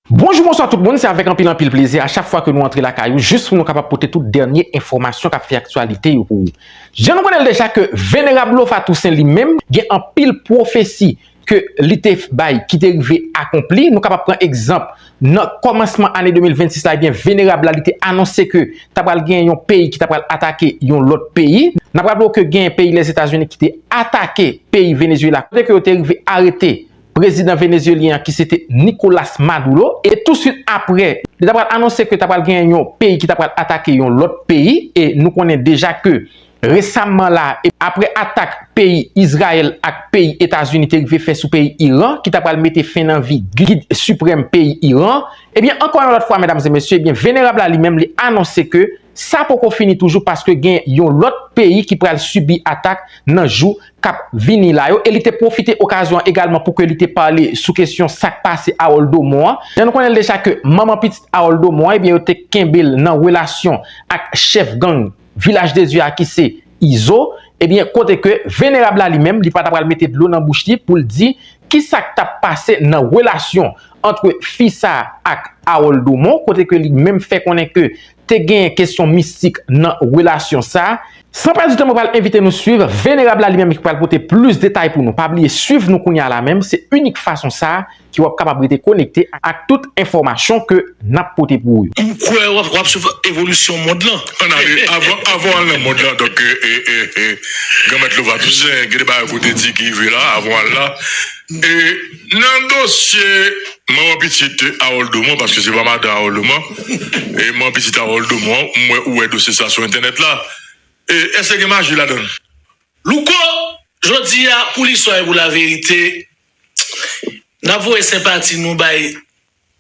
Bonjou bonswa tout moun se avèk anpil anpil plezi a chak fwa ke nou antre lakay ou jis pou nou kapab pote tout dènye enfòmasyon kap fè aktyalite yo pou ou. Jan nou konnenl deja ke Venerab Lofa Toussaint li menm gen anpil pwofesi ke li te bay ki te rive akonpli, nou kapab pran egzanp nan kòmansman ane 2026 la ebyen Venerab la li te anonse ke ta pral gen yon peyi ki ta pral atake yon lòt peyi. Nap raple ou ke gen peyi Lèzetazini ki te atake peyi Venezuela kote ke yo te rive arete prezidan venezyelyen an ki se te Nicolas Maduro, e tou swit apre li ta pral anonse ke ta pral gen yon peyi ki ta pral atake yon lòt peyi, e nou konnen deja ke resamman la a, apre atak peyi Izrayèl ak peyi Etazini te rive fè sou peyi Iran, ki ta pral mete fen nan vi gid siprèm peyi Iran, ebyen ankò yon lòt fwa medam e mesye, ebyen venerab la li menm li anonse ke sa poko fini toujou paske gen yon lòt peyi ki pral sibi atak nan jou k ap vini la yo e li te pwofite okazyon an egalman pou ke li te pale sou kesyon sa k pase Harold Domon an. Jan nou konnen l deja ke manman pitit Harold Domon an ebyen yo te kenbe l nan relasyon ak chèf gang Vilaj de Dye a ki se Izo ebyen kote ke Venerab la li menm li pa ta pral mete dlo nan bouch li pou l di ki sa k t ap pase nan relasyon antre fi sa ak Harold Domon kote ke li menm fè konnen ke te gen kesyon mistik nan relasyon sa. San pèdi tan mwen pral envite nou swiv Venerab la li menm ki pral pote plis detay pou nou pa bliye swiv nou kounya la menm se inik fason sa ki wap kapab rete konekte ak tout enfòmasyon ke nap pote pou ou. M kwè wap wap swiv evolisyon mond lan. An ale avan avan w al nan mond lan donk Granmèt Lova Toussaint gen de bagay ke w te di ki rive la avan w al la e. Nan dosye manman pitit Harold Domon, paske se pa madan Harold Domon, e manman pitit Harold Domon an, m wè ou wè dosye sa sou entènèt la, e èske gen maji ladan l? Louko, jodi a, pou listwa e pou laverite, n ap voye senpati nou bay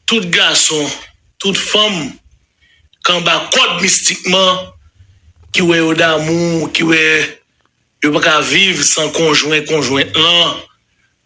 tout gason, tout fanm k anba kòd mistikman, ki wè yo damou, ki wè yo pa ka viv san konjwen, konjwent lan,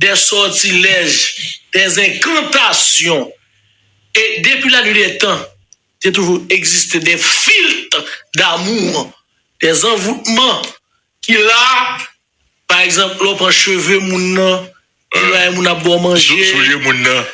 dè sòtilèj, dè enkantasyon, e depi la nwi dè tan, te toujou egziste dè filt damou, dè anvoutman ki la, pa egzanp, lè w pran cheve moun nan, lè moun nan ap ba w manje.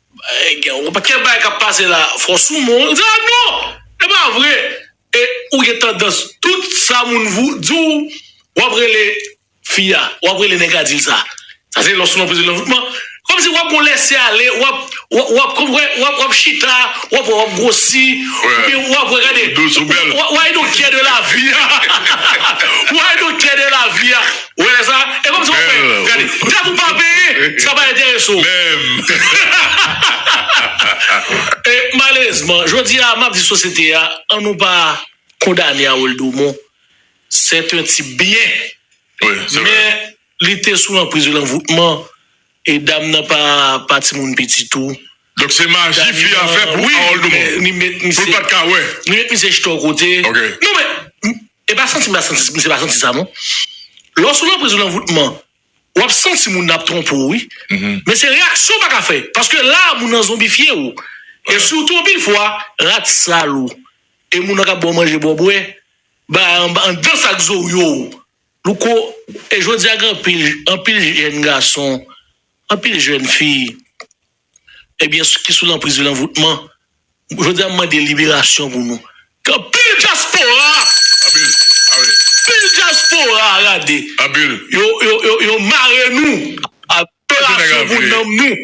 Gen yon pakèt bagay kap pase la fò sou mwen ou di a non e pa vre e ou gen tandans tout sa moun vou di w wap rele fi a wap rele nèg la di l sa sa se lè w sou nan prizon nan man kòmsi wap gon lèse ale wap wap konpran wap wap chita wap wè wap gwosi oubyen wap wè gade w ay don kè de lavi a ou ay don kè de lavi a. Wè lè sa, e kòmsi wap fè, gade, dat ou pa peye, sa pa enterese w. Menm. E malerezman, jodi a, map di sosyete a, an nou pa kondane Harold Domon, sè t un tip byen, men li te sou lanpriz de lanvoutman, E dam nan pa pa timoun piti tou. Donk se maji fi a fè pou Harold Dumont pou l pat ka wè. Li met misye jete yon kote. Non men e pa santi misye misye pa santi sa non. Lè w sou lanpriz yon anvoutman w ap santi moun nan ap twonpe w wi. Men se reyaksyon w pa ka fè paske la moun nan zonbifye w. E sitou anpil fwa rat sal ou e moun nan k ap ba w manje ba w bwè bay anba anndan sak zo w yo. Louko, e jodi a gen anpil, anpil jèn gason, anpil jèn fi, ebyen ki sou lanpriz vil anvoutman, jodi a m mande liberasyon pou nou, ke anpil dyaspora, anpil, anpil, anpil dyaspora gade, anpil, yo, yo, yo mare nou, liberasyon pou nanm nou.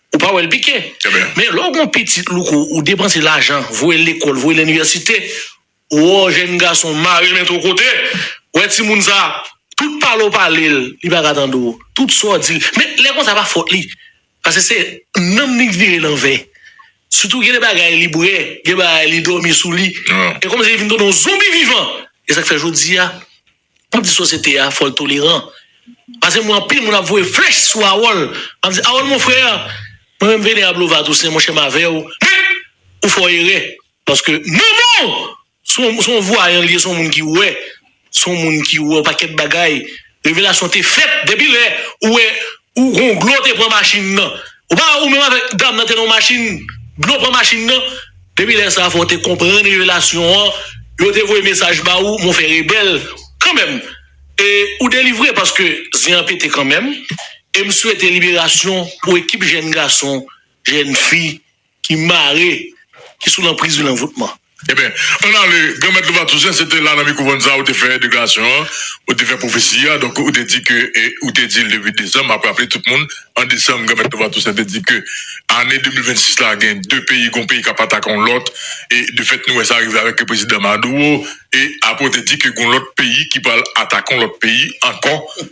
Ou pa wèl pike. Men lè w gon pitit louko ou depanse lajan voyel lekol voyel inivèsite woo jèn gason mare men to kote wè timoun sa tout pale w pale l li paka tande w tout sa w dil men lè konsa pa fot li pase se nanm li k vire lanvè sitou gen de bagay li bwè gen bagay li domi sou li e kòmsi li vin tounen w zonbi vivan esak fè jodia. Map di sosyete a fòl toleran pase m wè anpil moun ap voye flèch sou Harold map di Harold mon frère mwen menm Venerable Lova Toussaint monchè m avèw men ou fè w erè paske manmanw son son vwayan li ye son moun ki wè son moun ki wè yon pakèt bagay revelasyon te fèt depi lè ou wè Ou gon glo te pran machin nan. Ou pa wè ou menm avèk dam nan te nan yon machin, glo pran machin nan. Depi lè sa fòw te konprann revelasyon an, yo te voye mesaj ba ou mon fè rebèl kanmenm e ou delivre paske zen an pete kanmenm em swete liberasyon pou ekip jèn gason, jèn fi Ki mare, ki sou lanpriz vil anvoutman. Eben, ann ale, Granmèt Lova Tousen, se te la nan Mikwo Vannza ou te fè deklarasyon an, ou te fè pwofesi a, donk ou te di ke, e ou te di l depi desanm, m ap raple tout moun, an desanm Granmèt Lova Tousen te di ke ane 2026 la gen de peyi, gon peyi k ap atake yon lòt, e de fèt nou wè sa rive avèk Prezidan Maduro, e apre ou te di ke gon lòt peyi ki pral atake yon lòt peyi ankò.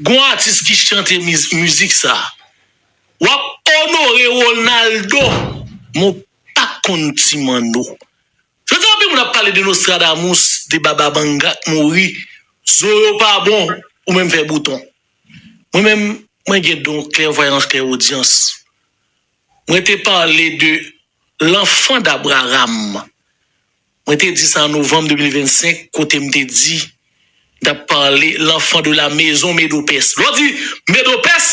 Gon atis ki chante mizik sa. Wap onore Ronaldo men w pa konn ti manno. Jodi a anpil moun ap pale de Nostradamus, de Baba Banga k mouri, zo yo pa bon ou menm fè bouton. Mwen menm mwen gen don klèvwayans klèwodyans. Mwen te pale de L'enfant d'Abraham Mwen te di sa an novanm 2025 kote m te di m t ap pale L'enfant de la maison Medo-Pès. Lè w di Medo-Pès,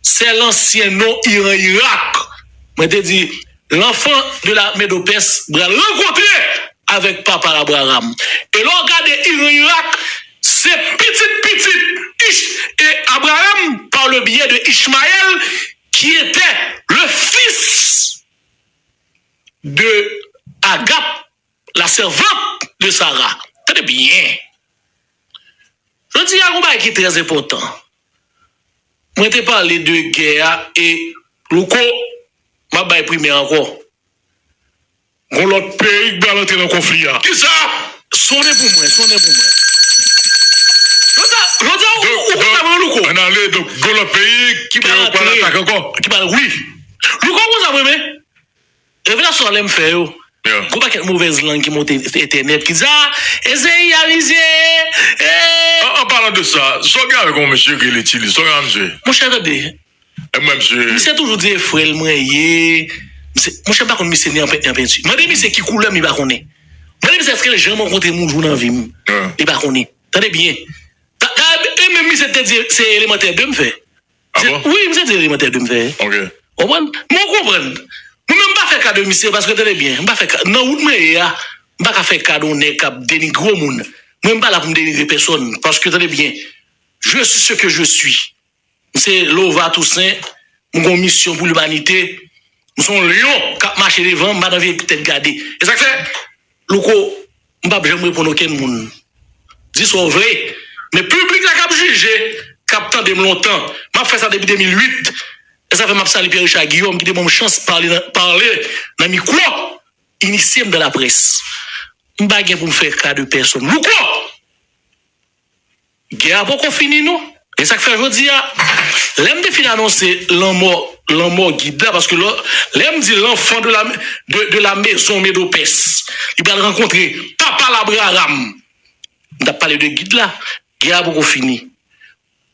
se lansyen non Iran Irak. Mwen te di L'enfant de la Medo-Pès pral rankontre avèk Papa l Abraram. E lè w gade Iran Irak, se pitit pitit Ich e Abraram par le biais de Ishmaël ki etè le fils. de Agap, la servante de Sara. Tande byen. Jodi a gen yon bagay ki trè enpòtan. Mwen te pale de gè a e Louko, m ap bay primè ankò. Gon lòt peyi ki pral antre nan konfli a. Kisa? Sonnen pou mwen, sonnen pou mwen. Jodi a, jodi a ou konprann mwen non Louko? Ann ale, donk gon lòt peyi ki pral atak ankò? Ki pral, wi. Louko ou konn sa mwen renmen? Revelasyon alèm fè yo gwo pakèt movèz lang ki monte entènèt ki di a Ezeyi a rizye ee. An palan de sa, zò gen avèk yon mesye ki rele Tilly, zò gen avèk misye? Monchè tande, misye toujou di e frè l mwen ye, misye, monchè m pa konn misye ni an pent ni an penti, mande misye ki koulè m li pa konnen, mande misye eske l janm rankontre m yon jou nan vi m li pa konnen, tande byen, e menm misye te di se elemantè 2 m fè. Abo. Wi misye di elemantè 2 m fè. Ok. Ou konprann? Men ou konprann. Mwen menm m pa fè ka de misye paske tande byen, m pa fè ka, nan wout mwen ye a, m pa ka fè ka de yon nèg k ap denigre yon moun. Mwen m pa la pou m denigre pèsòn paske tande byen, je suis ce que je suis. M se Lova Tousen, m gen yon misyon pou limanite, m se yon lyon k ap mache devan, m pa nan vye tèt gade. E sa k fè, Louko, M pap janm reponn okenn moun. Di sa w vle, men piblik la k ap jije, k ap tande m lontan. M ap fè sa depi 2008. E sa fè m ap salye Pierre Richard Guillaume ki te ban m chans pale pale nan mikwo, inisye m dan laprès. M pa gen pou m fè ka de pèsonn. Louko! Gè a poko fini non. E sak fè jodi a lèm te fin anonse lanmò lanmò gid la paske lò lèm di lanfan de la de de la mezon medopès li pral rankontre papa l abraram m tap pale de gid la gè a poko fini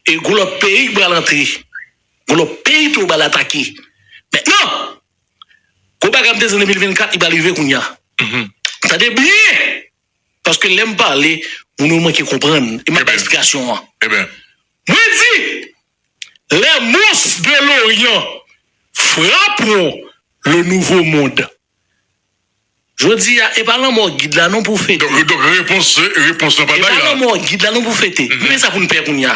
e gon lòt peyi k pral antre gon lòt peyi tou yo pral atake mètnan gon bagay m te di an 2024 li pral rive kounya tande byen Paske lè m pale, moun yo manke konprann e m ap bay esplikasyon an. Mwen di, Les monstres de l'Orient frapperont le Nouveau Monde. Jodi a, e pa lanmò gid la non pou fete. Donk repons lan pa bay la. E pa lanmò gid la non pou fete. Men sa pou n pè kounye a.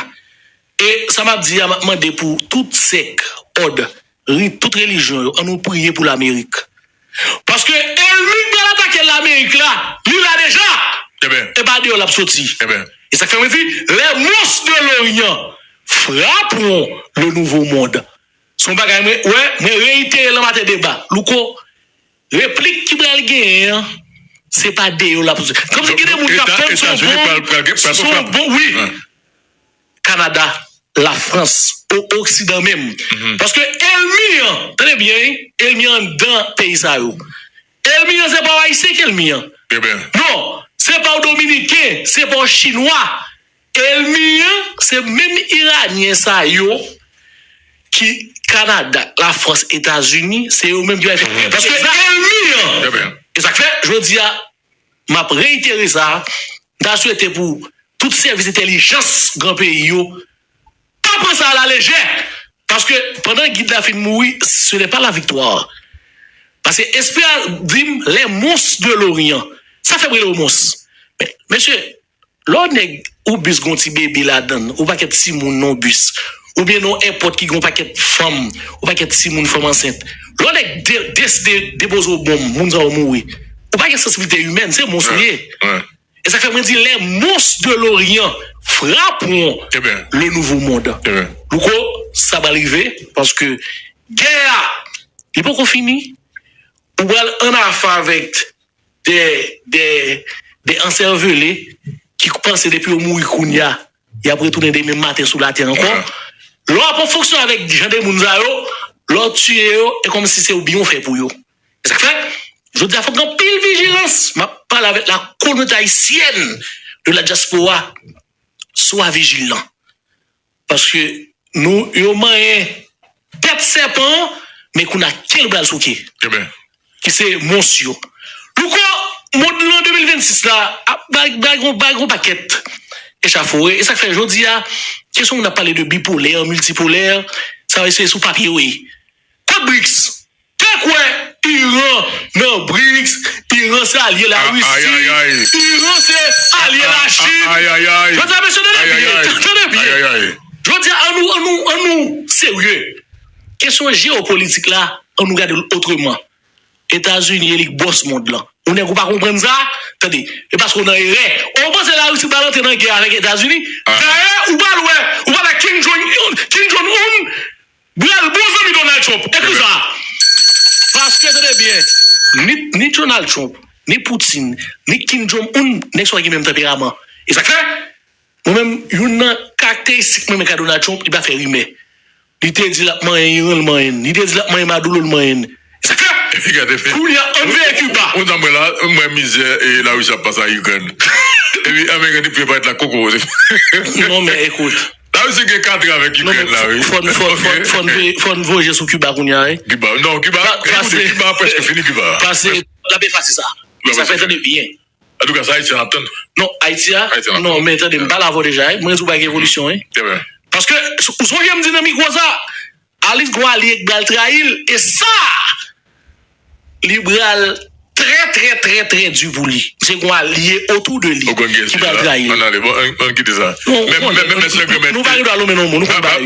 E sa map di a map mande pou tout sèk, òd, rit, tout relijyon yo an nou priye pou lamerik paske elmi k pral atake lamerik la li la deja e pa deyò lap soti e sak fè mwen di lè mons de loryan frapron le nouvo mond son bagay mwen wè mwen reyitere lan maten deba louko replik ki pral genyen an se pa deyò lap soti kòmsi gen de moun kap tann son bon son bon wi. Canada, la France ou oksidan menm paske elmi an tande byen wi elmi an andan peyi sa yo elmi an se pa w ayisyen ki elmi an non se pa w dominiken se pa w chinwa elmi an se menm iranyen sa yo ki Canada, la France, Etats Unis se yo menm ki bay fè gè paske elmi an e sak fè jodi a. M ap reitere sa, m ta swete pou tout sèvis entèlijans gran peyi yo pa pran sa a la lejè, paske pandan gid la fin mouri ce n'est pas la victoire paske espri a di m les monstres de l'orient sa fè m rele yo mons men mesye Lè w nèg ou bis gon ti bebe ladann ou pa kèt timoun non bis ou byen non èpòt ki gon pakèt fanm ou pa kèt timoun fanm ansent lè w nèg de deside depoze w bonm moun sa yo mouri ou pa gen sansibilite imèn se mons ou ye e sa k fè mwen di lè mons de loryan frapwon le nouvo mond louko sa pral rive paske gè a li poko fini ou pral annafe avèk. de de de ansèvele ki panse depi yo mouri kounya yap retounen demen maten sou latè ankò lè wap fonksyon avèk jan de moun sa yo lè w tiye yo e kòmsi se yon byen ou fè pou yo e sak fè jodi a fòk gen anpil vijilans map pale avèk la kominote ayisyèn de la dyaspora swa vijilan Paske nou yo manyen tèt sèpan an, men kounye a ke l pral souke. Eben. Ki se mons yo. Louko, mond lan 2026 la ap bay bay yon bay yon pakèt echafore. E sa k fè jodi a, kesyon moun ap pale de bipolè, miltipolè, sa yo se sou papye yo ye. Kont Brics. Te kwè Iran nan Brics Iran se alye la Russie Iran se alye la Chine Jodi a mesye tande byen tande byen Jodi a an nou an nou an nou serye Kesyon jeopolitik la an nou gade l otreman Etazini elik bòs mond lan Ou nèg ou pa konprann sa Tande e paske ou nan erè Ou panse la Russie pral antre nan gè avèk Etazini Dayè ou pral wè ou pral wè Kim Jong Kim Jong Un Bilal bon zanmi Donald Trump ekri sa a. Paske tande byen ni Donald Trump, ni Putin, ni Kim Jong Un nèg sa yo gen menm tanperaman. E sa k fè mwen menm youn nan karakteristik mwen renmen kay Donald Trump li pa fè rimè. Li te di l ap manyen Iran l manyen l, li te di l ap manyen Maduro l manyen l. E sa k fè kounye a an n veye Kiba. Ou ta m wè la m wè mizè Larisi ap pase a Ikrèn epi ameriken te prepare t la koko. Non men ekout. La Russie gen katre avèk Ikrèn la wi. Fò n voye je sou Kiba kounya wi. Kiba non Kiba ekoute Kiba preske fini Kiba. Pase l ap efase sa. Men sa fè tande byen. Antouka sa Ayisyen ap tann. Non Ayiti a non men tande m pa la vodeja wi mwen di w bagay gen evolisyon wi. Paske ou sonje m di nan mikwo sa Alif gon alye k bal trayil e sa Li bral trè trè trè trè du pou li misye gon alye otou de li ki bal trayil nou pa gen dwa lonmen non moun nou konn bagay yo.